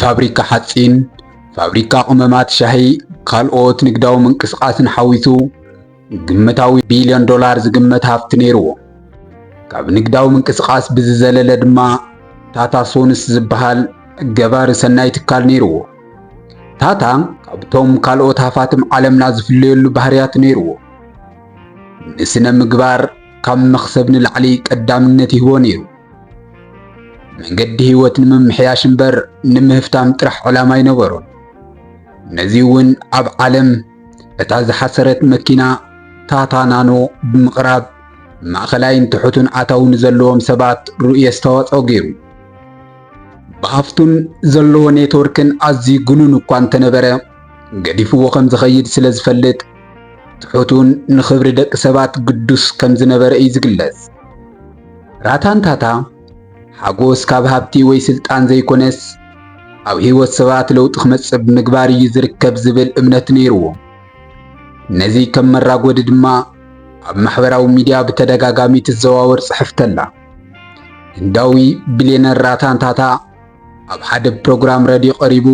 ፋብሪካ ሓጺን፣ ፋብሪካ ቅመማት ሻሂ፣ ካልኦት ንግዳዊ ምንቅስቓስን ሓዊሱ ግምታዊ ቢልዮን ዶላር ዝግመት ሃፍቲ ነይርዎ። ካብ ንግዳዊ ምንቅስቓስ ብዝዘለለ ድማ ታታ ሶንስ ዝበሃል ገባሪ ሰናይ ትካል ነይርዎ። ታታ ካብቶም ካልኦት ሃፋትም ዓለምና ዝፍለየሉ ባህርያት ነይርዎ። ንስነ ምግባር ካብ መኽሰብ ንላዕሊ ቀዳምነት ይህቦ ነይሩ። መንገዲ ህይወት ንምምሕያሽ እምበር ንምህፍታም ጥራሕ ዕላማ ኣይነበሮን። ነዚ እውን ኣብ ዓለም እታ ዝሓሰረት መኪና ታታ ናኖ ብምቕራብ ማእኸላይን ትሑትን ኣታዊ ንዘለዎም ሰባት ርኡይ ኣስተዋፅኦ ገይሩ። ብሃፍቱን ዘለዎ ኔትወርክን ኣዝዩ ግኑን እኳ እንተነበረ ገዲፍዎ ከም ዝኸይድ ስለ ዝፈልጥ ትሑቱን ንኽብሪ ደቂ ሰባት ግዱስ ከም ዝነበረ እዩ ዝግለጽ። ራታንታታ፣ ሓጎስ ካብ ሃብቲ ወይ ስልጣን ዘይኮነስ ኣብ ህይወት ሰባት ለውጢ ክመጽእ ብምግባር እዩ ዝርከብ ዝብል እምነት ነይርዎ። ነዚ ከም መራጎዲ ድማ ኣብ ማሕበራዊ ሚዲያ ብተደጋጋሚ ትዘዋወር ጽሕፍቲ ኣላ። ህንዳዊ ቢልየነር ራታን ታታ ኣብ ሓደ ፕሮግራም ረድዮ ቀሪቡ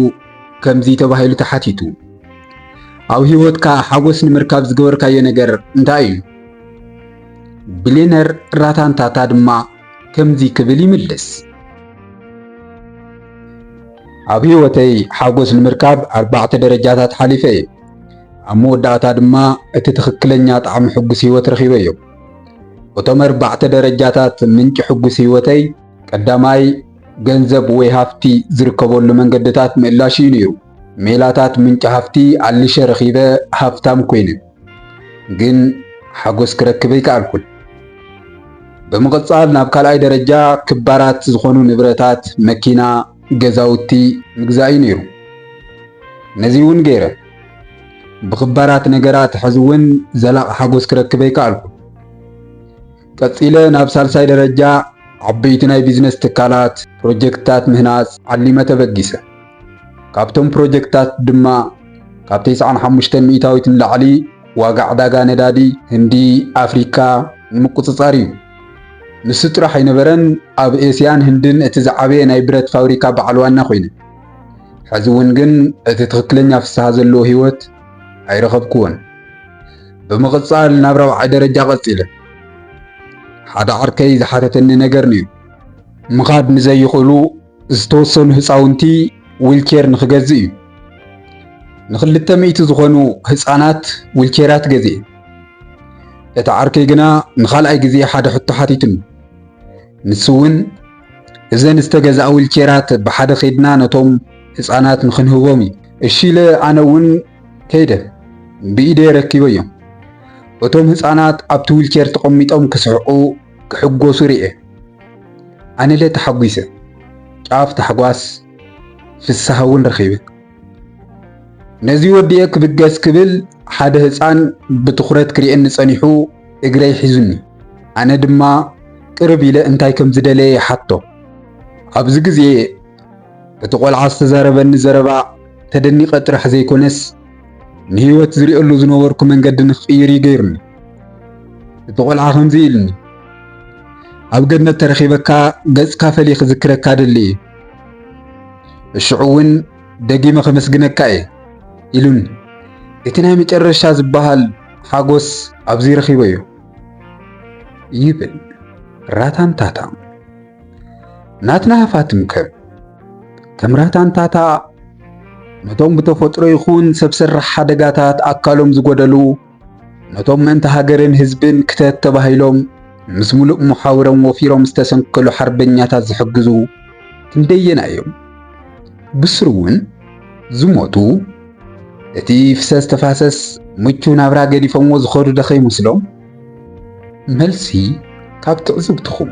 ከምዚ ተባሂሉ ተሓቲቱ ኣብ ህይወትካ ሓጎስ ንምርካብ ዝገበርካዮ ነገር እንታይ እዩ? ቢልየነር ራታን ታታ ድማ ከምዚ ክብል ይምልስ። ኣብ ህይወተይ ሓጎስ ንምርካብ ኣርባዕተ ደረጃታት ሓሊፈ እየ። ኣብ መወዳእታ ድማ እቲ ትኽክለኛ ጣዕሚ ሕጉስ ህይወት ረኺበ እዮ። እቶም ኣርባዕተ ደረጃታት ምንጪ ሕጉስ ህይወተይ ቀዳማይ ገንዘብ ወይ ሃፍቲ ዝርከበሉ መንገድታት ምእላሽ እዩ ነይሩ። ሜላታት ምንጪ ሃፍቲ ኣልሸ ረኺበ ሃፍታም ኮይነ። ግን ሓጎስ ክረክብ ኣይከኣልኩን። ብምቕጻል ናብ ካልኣይ ደረጃ ክባራት ዝኾኑ ንብረታት፣ መኪና፣ ገዛውቲ፣ ምግዛእ'ዩ ነይሩ። ነዚ'ውን ገይረ። ብኽባራት ነገራት ሕዚ'ውን ዘላቒ ሓጎስ ክረክብ ኣይከኣልኩን። ቀጺለ ናብ ሳልሳይ ደረጃ ዓበይቲ ናይ ቢዝነስ ትካላት ፕሮጀክትታት ምህናጽ ዓሊመ ተበጊሰ። ካብቶም ፕሮጀክትታት ድማ ካብ ተስዓን ሓሙሽተን ሚእታዊት ንላዕሊ ዋጋ ዕዳጋ ነዳዲ ህንዲ ኣፍሪካ ንምቁጽጻር እዩ። ንሱ ጥራሕ ኣይነበረን ኣብ ኤስያን ህንድን እቲ ዝዓበየ ናይ ብረት ፋብሪካ በዓል ዋና ኮይነ። ሕዚ እውን ግን እቲ ትኽክለኛ ፍስሃ ዘለዎ ህይወት ኣይረኸብኩዎን። ብምቕጻል ናብ ራብዓይ ደረጃ ቀጺለ። ሓደ ዓርከይ ዝሓተተኒ ነገር ነይሩ። ምኻድ ንዘይኽእሉ ዝተወሰኑ ህፃውንቲ ዊልቼር ንክገዝእ እዩ። ንክልተ ሚእቲ ዝኾኑ ህፃናት ዊልቼራት ገዝኤ። እቲ ዓርከይ ግና ንኻልኣይ ግዜ ሓደ ሕቶ ሓቲቱኒ። ንሱ እውን እዘን ዝተገዝኣ ዊልቼራት ብሓደ ከይድና ነቶም ህፃናት ንክንህቦም እዩ። እሺ ኢለ ኣነ እውን ከይደ ብኢደይ ረኪበዮም እቶም ህፃናት ኣብቲ ዊልቸር ተቐሚጦም ክስሕቑ ክሕጎሱ ርኤ ኣነለ ተሓጒሰ ጫፍ ታሕጓስ ፍስሃ እውን ረኺበ ነዚ ወዲኤ ክብገስ ክብል ሓደ ህፃን ብትኹረት ክርኤኒ ፀኒሑ እግረይ ሒዙኒ ኣነ ድማ ቅርብ ኢለ እንታይ ከም ዝደለየ ይሓቶ ኣብዚ ግዜ እቲ ቆልዓ ዝተዛረበኒ ዘረባ ተደኒቐ ጥራሕ ዘይኮነስ ንህይወት ዝሪኦሉ ዝነበርኩ መንገዲ ንክቕይር እዩ ገይሩኒ። እቲ ቆልዓ ከምዚ ኢልኒ፣ ኣብ ገነት ተረኺበካ ገጽካ ፈልየ ክዝክረካ ደሊ እዩ፣ እሽዑ እውን ደጊመ ከመስግነካ እየ ኢሉኒ። እቲ ናይ መጨረሻ ዝበሃል ሓጎስ ኣብዚ ረኺበዮ ይብል ራታንታታ። ናትና ሃፋትም ከም ከም ራታንታታ ነቶም ብተፈጥሮ ይኹን ሰብ ሰራሕ ሓደጋታት ኣካሎም ዝጎደሉ ነቶም ምእንቲ ሃገርን ህዝብን ክተት ተባሂሎም ምስ ሙሉእ መሓውሮም ወፊሮም ዝተሰንከሉ ሓርበኛታት ዝሕግዙ ክንደየና እዮም ብስሩ እውን ዝሞቱ እቲ ፍሰስ ተፋሰስ ምቹው ናብራ ገዲፎምዎ ዝኸዱ ደኸ ይመስሎም መልሲ ካብ ትዕዝብትኹም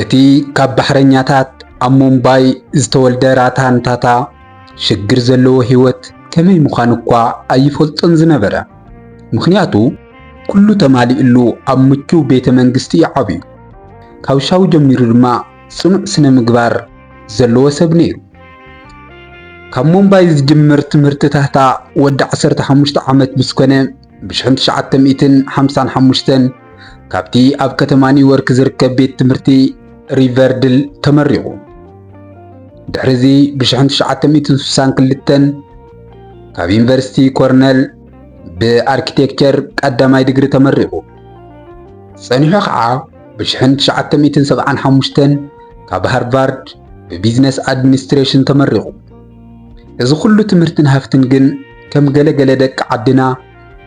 እቲ ካብ ባሕረኛታት ኣብ ሙምባይ ዝተወልደ ራታን ታታ ሽግር ዘለዎ ህይወት ከመይ ምዃኑ እኳ ኣይፈልጦን ዝነበረ። ምኽንያቱ ኩሉ ተማሊእሉ ኣብ ምቹው ቤተ መንግስቲ እዩ ዓብዩ። ካብ ሻው ጀሚሩ ድማ ጽኑዕ ስነ ምግባር ዘለዎ ሰብ ነይሩ። ካብ ሙምባይ ዝጅምር ትምህርቲ ታህታ ወዲ 15 ዓመት ምስ ኮነ ብሽሕን ትሽዓተ ሚእትን ሓምሳን ሓሙሽተን ካብቲ ኣብ ከተማ ኒውዮርክ ዝርከብ ቤት ትምህርቲ ሪቨርድል ተመሪቑ። ድሕርዚ ብሽሕን ትሽዓተ ሚእትን ስሳን ክልተን ካብ ዩኒቨርሲቲ ኮርነል ብኣርኪቴክቸር ቀዳማይ ድግሪ ተመሪቑ። ጸኒሑ ኸዓ ብሽሕን ትሽዓተ ሚእትን ሰብዓን ሓሙሽተን ካብ ሃርቫርድ ብቢዝነስ ኣድሚኒስትሬሽን ተመሪቑ። እዚ ኹሉ ትምህርትን ሃፍትን ግን ከም ገለ ገለ ደቂ ዓድና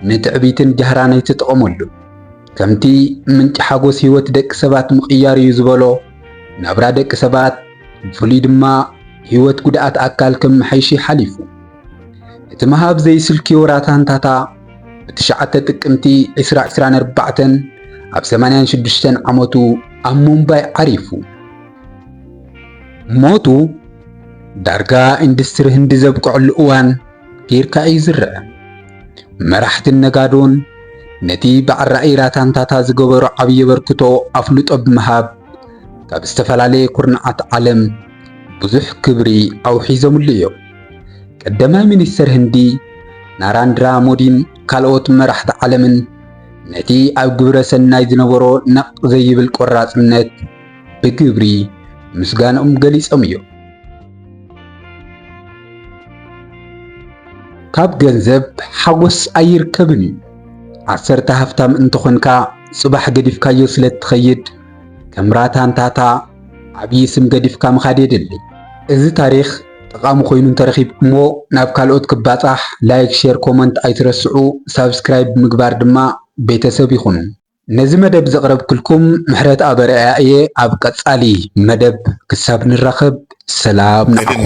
ንትዕቢትን ጃህራን ኣይትጥቐመሉ። ከምቲ ምንጪ ሓጎስ ህይወት ደቂ ሰባት ምቕያር እዩ ዝበሎ፣ ናብራ ደቂ ሰባት ብፍሉይ ድማ ህይወት ጉድኣት ኣካል ከመሓይሽ እዩ ሓሊፉ። እቲ ምሃብ ዘይስልክዮ ራታንታታ ብትሽዓተ ጥቅምቲ ዕስራ ዕስራን ኣርባዕተን ኣብ ሰማንያን ሽዱሽተን ዓመቱ ኣብ ሙምባይ ዓሪፉ። ሞቱ ዳርጋ ኢንዱስትሪ ህንዲ ዘብቅዐሉ እዋን ጌርካ እዩ ዝረአ። መራሕትን ነጋዶን ነቲ በዓል ራእይ ራታንታታ ዝገበሮ ዓብዪ ኣበርክቶ ኣፍልጦ ብምሃብ ካብ ዝተፈላለየ ኩርናዓት ዓለም ብዙሕ ክብሪ ኣውሒዞምሉ እዮም። ቀዳማይ ሚኒስተር ህንዲ ናራንድራ ሞዲን ካልኦት መራሕቲ ዓለምን ነቲ ኣብ ግብረ ሰናይ ዝነበሮ ነቕ ዘይብል ቆራጽነት ብግብሪ ምስጋንኦም ገሊጾም እዮም። ካብ ገንዘብ ሓጎስ ኣይርከብን እዩ። ዓሰርተ ሃፍታም እንተኾንካ ጽባሕ ገዲፍካዮ ስለ እትኸይድ ከም ራታንታታ ዓብዪ ስም ገዲፍካ ምኻድ የድሊ። እዚ ታሪኽ ጠቓሚ ኮይኑ እንተረኺብኩሞ ናብ ካልኦት ክባጻሕ ላይክ፣ ሼር፣ ኮመንት ኣይትረስዑ። ሳብስክራይብ ብምግባር ድማ ቤተሰብ ይኹኑ። ነዚ መደብ ዘቅረብክልኩም ምሕረትኣብ ኣርኣያ እየ ኣብ ቀጻሊ መደብ ክሳብ ንራኸብ ሰላም ንዓኹም።